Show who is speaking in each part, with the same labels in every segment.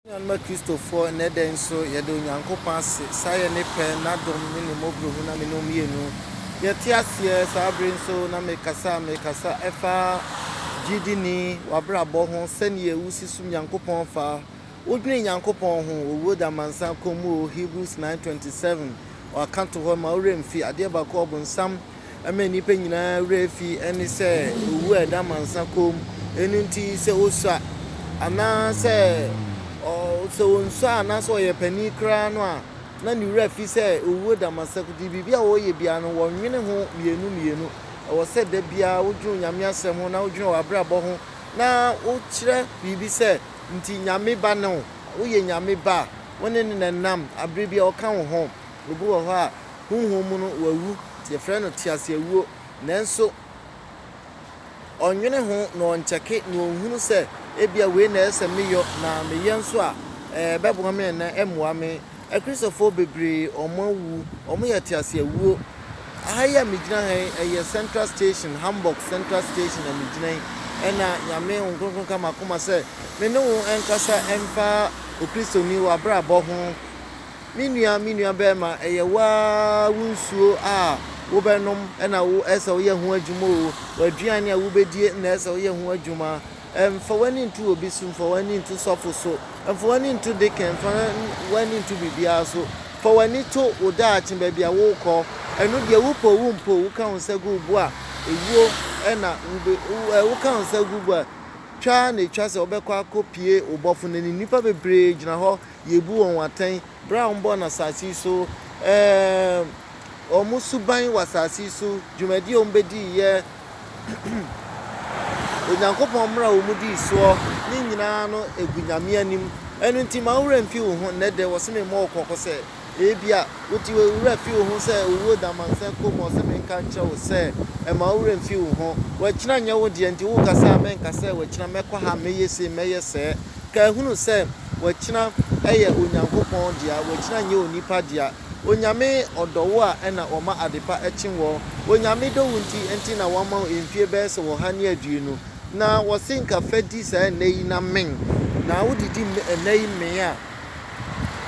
Speaker 1: Yɛn nuanom Akristofoɔ, nnɛ da yi nso, yɛda Onyankopɔn ase sɛ ayɛ Ne pɛ, N'adom, ne Ne mmɔborɔhunu na mene wɔn mmienu. Yɛte aseɛ saa bere yi nso na mekasa a mekasa ɛfa gyidini, w'abrabɔ ho, sɛdeɛ wosi som Nyankopɔn fa. Wodwene Nyankopɔn ho wɔ wuo da amansan kɔ mu o, Hebrews 9:27, Ɔaka to hɔ, Mma wo werɛ mmfi adeɛ baako a ɔbonsam ɛma nnipa nyinaa werɛ fi ne sɛ owu a ɛda amansa kɔn mu. Ɛno nti, sɛ osua anaasɛ ɔ, sɛ onsua anaasɛ ɔyɛ panin koraa no a, na ne werɛ afi sɛ owuo da amansa kɔn nti, biribi a ɔreyɛ biara no, ɔnwene ho mmienu mmienu. Ɛwɔ sɛ da biara wodwene wo Nyame asɛm ho na wodwene w'abrabɔ ho na wokyerɛ biribi sɛ, nti Nyame ba ne wo, woyɛ Nyame ba a, wo ne No na ɛnam, aberɛ biara ɔka wo ho. Obi wɔ hɔ a, honhom mu no wawu, yɛfrɛ no teaseawuo, nanso ɔnnwene ho na ɔnkyɛke na ɔnhunu sɛ ebia wei na ɛsɛ meyɔ na meyɛ nso a, ɛbɛboa me anaa ɛmmoa me. Akristofoɔ bebree wɔawu, wɔyɛ teaseawuo. Aha yi a megyina ha yi, ɛyɛ Central Station, Hamburg Central Station na megyina yi. Ɛna Nyame Honhom Kronkron ka m'akoma sɛ me ne wo nkasa mfa Okristoni w'abrabɔ ho. Me nua, me nua barima, ɛyɛ wo ara wo nsuo a wobɛnom na wo, ɛsɛ sɛ woyɛ ho adwuma o, w'aduane a wobɛdie na ɛsɛ sɛ woyɛ ho adwuma. Mfa w'ani nto obi so, mfa w'ani nto sɔfo so, mfa w'ani nto deacon, mfa w'ani nto biribiara so. Fa w'ani to wo daakye, baabi a worekɔ. Ɛno deɛ, wopɛ o, wompɛ o, woka wo nsa gu wo bo a, ewuo na wobɛ, wo, woka wo nsa gu wo bo a, twa ara na ɛtwa sɛ wobɛkɔ akɔpue wo Bɔfo no anim. Nnipa bebree gyina hɔ. Yebu wɔn atɛn berɛ a wɔbɔɔ no asase yi so, ɛɛm, wɔn suban wɔ asase yi so, dwumadie a wɔbɛdiiɛ, Onyankopɔn mmara a wɔdii soɔ, ne nyinaa no gu Nyame anim. Ɛno nti, mma wo werɛ mfi wo ho. Nnɛ dɛ, wɔse memmɔ wo kɔkɔ sɛ. Ebia wode wo werɛ fi wo ho sɛ owuo da amansan kɔn mu. Ɔse menka nkyerɛ wo sɛ, mma wo werɛ mfi wo ho. W'akyina nyɛ wo deɛ, nti woka sɛ a menka sɛ w'akyina mɛkɔ ha, mɛyɛ sei, mɛyɛ sɛɛ. Kae hunu sɛ w'akyina yɛ Onyankopɔn dea, w'akyina nyɛ onipa dea. Onyame ɔdɔ wo a ɛna ɔma adepa kye woɔ. Onyame dɔ wo nti nti na wama wo mfie bɛyɛ sɛ ɔha ne aduonu. Na ɔse nka fa di saa nnɛ yi na men. Na wode di nnɛ yi men a.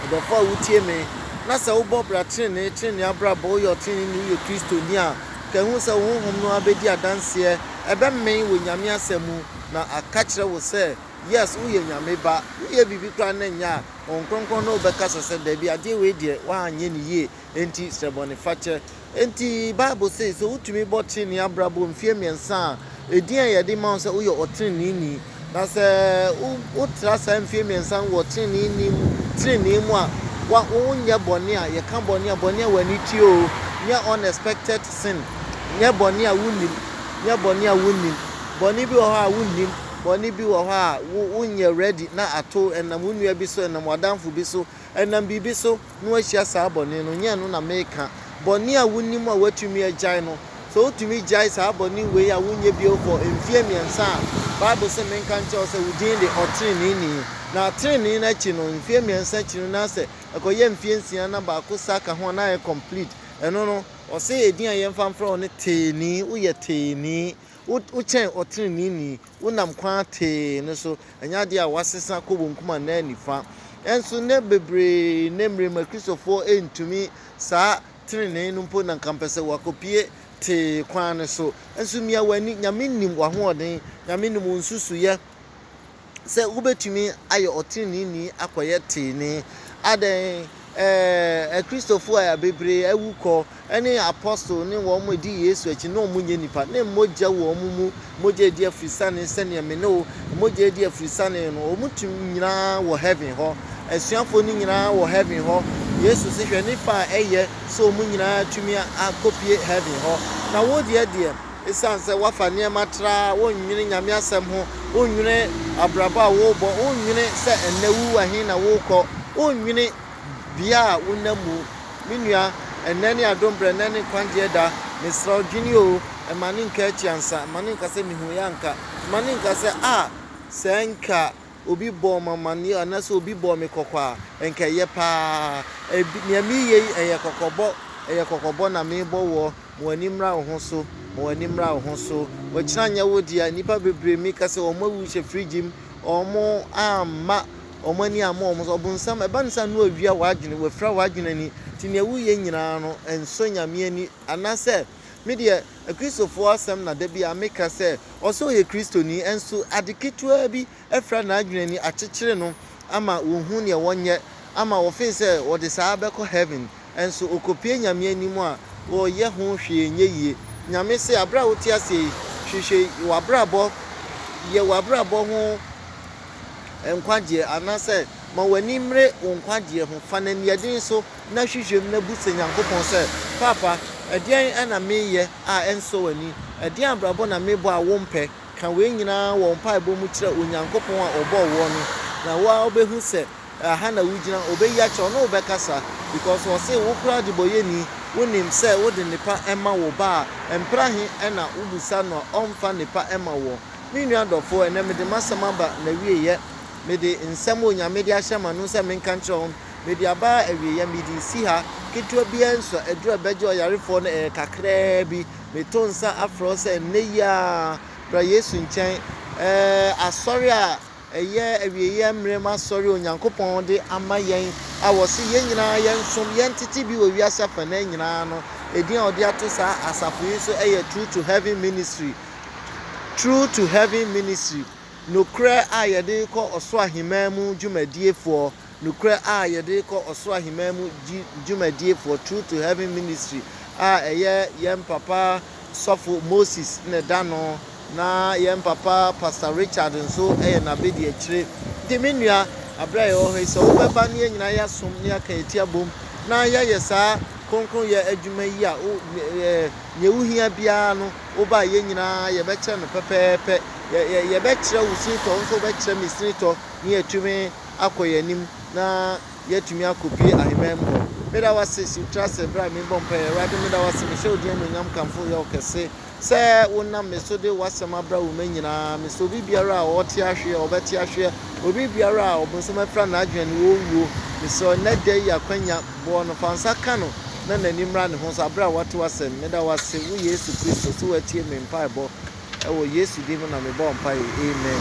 Speaker 1: Ɔdɔfo a wutie me, na sɛ wobɔ bra trenee, trenee abrabɔ, woyɛ ɔtreneeni, woyɛ Kristoni a, ka ehu sɛ wo honhom no ara bedi adanseɛ, ɛbɛmee wɔ Nyame Asɛm mu, na aka kyerɛ wo sɛ, Yes, woyɛ Nyame Ba. Woyɛ biribi koraa na ɛnyɛ a, Honhom Kronkron ne wo bɛkasa sɛ, Dabi, adeɛ wei deɛ, woanyɛ no yie. enti srɛ bɔnefakyɛ. Enti Bible se, sɛ wotumi bɔ trenee abrabɔ mfeɛ mmiɛnsa a, edin a yɛde ma wo sɛ woyɛ ɔtreneeni. Na sɛ wo, wotra saa mfeɛ mmiɛnsa no wɔ treneeni mu, trenee mu a, wa, wonyɛ bɔne a, yɛka bɔne a, bɔne a w'ani tua o, nyɛ unexpected sin, nyɛ bɔne a wonnim, nyɛ bɔne a wonnim. Bɔne bi wɔ hɔ a wonnim, bɔne bi wɔ hɔ a wo, wonyɛ ready na ato, ɛnam wo nua bi so, ɛnam w'adamfo bi so, ɛnam biribi so. no ahyia saa bɔne no, nyɛ ɛno na mereka. Bɔne a wunim a woatumi agyae no, sɛ wutumi gyae saa bɔne wei a wonyɛ bio for mfeɛ mmiɛnsa a, Bible se menka nkyerɛ wo sɛ wo din de ɔteneneeni. Na atenenee no akyi no, mfeɛ mmiɛnsa akyi no, na sɛ ɛkɔyɛ mfeɛ nsia na baako sa ka ho a, na ayɛ complete. Ɛno no, ɔse edin a yɛmfa mfrɛ wo ne Teeni, woyɛ Teeni, wo kyɛn ɔteneneeni, wonam kwan tee no so. Ɛnyɛ adeɛ a wɔasesa kɔ wɔn kum anaa nifa. Nanso nnɛ bebree, nnɛ mmerɛ mu Akristofoɔ ntumi saa tenenee no mpo na nka mpɛ sɛ wɔakɔpue tee kwan no so. Nso mia w'ani, Nyame nim w'ahoɔden, Nyame nim wo nsusuiɛ sɛ wobɛtumi ayɛ ɔteneneeni akɔyɛ teenee. Adɛn? Ɛɛ, Akristofoɔ a bebree awu kɔ. ne apostol ne wɔn a wɔdi Yesu akyi na wɔnyɛ nnipa, ne mogya wɔ wɔn mu, mogya a edi afirisane sɛnea me ne wo mogya edi afirisane no, wɔn ti nyinaa wɔ heaven hɔ, asuafoɔ no nyinaa wɔ heaven hɔ. Yesu se, hwɛ nnipa a ɛyɛ sɛ wɔn nyinaa atumi akɔpue heaven hɔ. Na wo deɛ deɛ, esiane sɛ woafa nneɛma traa, wonnwene Nyame asɛm ho, wonnwene abrabɔ a worebɔ, wonnwene sɛ ɛnnɛ wo wɔ he na worekɔ, wonnwene. bea a wonam mu. Me nua, ɛnnɛ ne adom berɛ, ɛnnɛ ne nkwagyeɛ da. Mesrɛ wo, dwene o, mma no nka akyi ansa, mma no nka sɛ mehuiɛ anka, mma no nka sɛ, ah, sɛ anka obi bɔɔ me amanneɛ anaasɛ obi bɔɔ me kɔkɔ a, anka ɛyɛ pa ara. Ɛbi, nea mereyɛ yi, ɛyɛ kɔkɔbɔ, ɛyɛ kɔkɔbɔ na merebɔ woɔ. Ma w'ani mmra wo ho so, ma w'ani mmra wo ho so. Ɔkyena nyɛ wo dea. Nnipa bebree, meka sɛ wɔn awu hyɛ fridge mu, wɔamma. wɔn ani ammɔ wɔn so. Ɔbonsam, ɛba ne saa a, na wawia w'adwene, wafira w'adwene ani. Enti nea woyɛ nyinaa no, ɛnsɔ Nyame ani. Anaasɛ, me deɛ, Akristofoɔ asɛm na da biara meka sɛ, ɔsɛ ɔyɛ Kristoni, nso ade ketewaa bi afira n'adwene ani, akyekyere no ama ɔnhu nea ɔnyɛ, ama ɔfeel sɛ ɔde saa bɛkɔ Heaven. Nso okopue Nyame anim a, ɔyɛ ho hwee nyɛ yie. Nyame se, aberɛ a wote aseɛ yi, hwehwɛ w'abrabɔ, yɛ w'abrabɔ ho nkwagyeɛ, anaasɛ ma w'ani mmere wo nkwagyeɛ ho, fa no aniɛden so, na hwehwɛ mu na bu sɛ Nyankopɔn sɛ, Paapa, ɛdeɛn na meyɛ a ɛnsɔ w'ani? Ɛdeɛn abrabɔ na mebɔ a wompɛ? Ka wei nyinaa wɔ wo mpaebɔ mu kyerɛ Onyankopɔn a ɔbɔɔ woɔ no, na wo ara wobɛhu sɛ, Ɛha na wugyina, obeyi akyerɛ wo na wobɛkasa because wɔse wo koraa adebɔyɛni, wonim sɛ wode nnepa ma wo ba a, mpra he na wobisa no a ɔmfa nnepa ma woɔ? Me nua dɔfoɔ, ɛnnɛ mede m'asɛm aba n'awieeɛ. Mede nsɛm a Onyame de ahyɛ m'ano sɛ menka nkyerɛ wo no, mede aba awieeɛ. Mede resi ha, ketewa biaa nsi hɔ, aduru a ɛbɛgye ɔyarefoɔ no ɛyɛ kakraa bi. Meto nsa afrɛ wo sɛ nnɛ yi ara bra Yesu nkyɛn, ɛɛɛ, asɔre a. Ɛyɛ awieeɛ mmerɛ mu asɔre a Onyankopɔn de ama yɛn a ɔse yɛn nyinaa yɛnsom, yɛntete bi wɔ wiase afanan nyinaa no. Edin a ɔde ato saa asafo yi so yɛ True to Heaven Ministry. True to Heaven Ministry, Nokorɛ a yɛde rekɔ Ɔsoro Aheman mu dwumadiefoɔ. Nokorɛ a yɛde rekɔ ɔsoro aheman mu dwumadiefoɔ, Truth to Heaven Ministry, a ɛyɛ yɛn papa sɔfo Moses na ɛda no, na yɛn papa Pastor Richard nso yɛ n'abadiakyire. Nti me nua, aberɛ a yɛwɔ hɔ yi, sɛ wobɛba na yɛn nyinaa yɛasom na yɛaka yɛn ti abom na yɛayɛ saa kronkronyɛ adwuma yi a, wo, ɛɛ, nea wohia biara no, woba a, yɛn nyinaa yɛbɛkyɛ no pɛpɛɛpɛ. Yɛ, yɛ, yɛbɛkyerɛ wo sinitɔ, wo nso wobɛkyerɛ me sinitɔ, na yɛatumi akɔ yɛn anim na yɛatumi akɔpue ahemman mu hɔ. Meda wo ase si tra sɛ berɛ a merebɔ mpaeɛ. Awurade, meda wo ase, mehyɛ wo din anuonyam kamfo yɛ wo kɛse sɛ wonam me so de w'asɛm abra wo ma nyinaa. Mesɛ obi biara a ɔte ahweɛ, ɔbɛte ahweɛ, obi biara a ɔbonsam afira n'adwene no, wɔnwuo. Mesɛ ɔnnɛ da yi akwanya, boɔ no, fa nsa ka no na n'ani mmra ne ho so berɛ a wate w'asɛm. Meda wo ase, wo Yesu Kristo, sɛ woatie me mpaebɔ. Ɛwɔ Yesu din mu na mebɔɔ mpaeɛ, amen.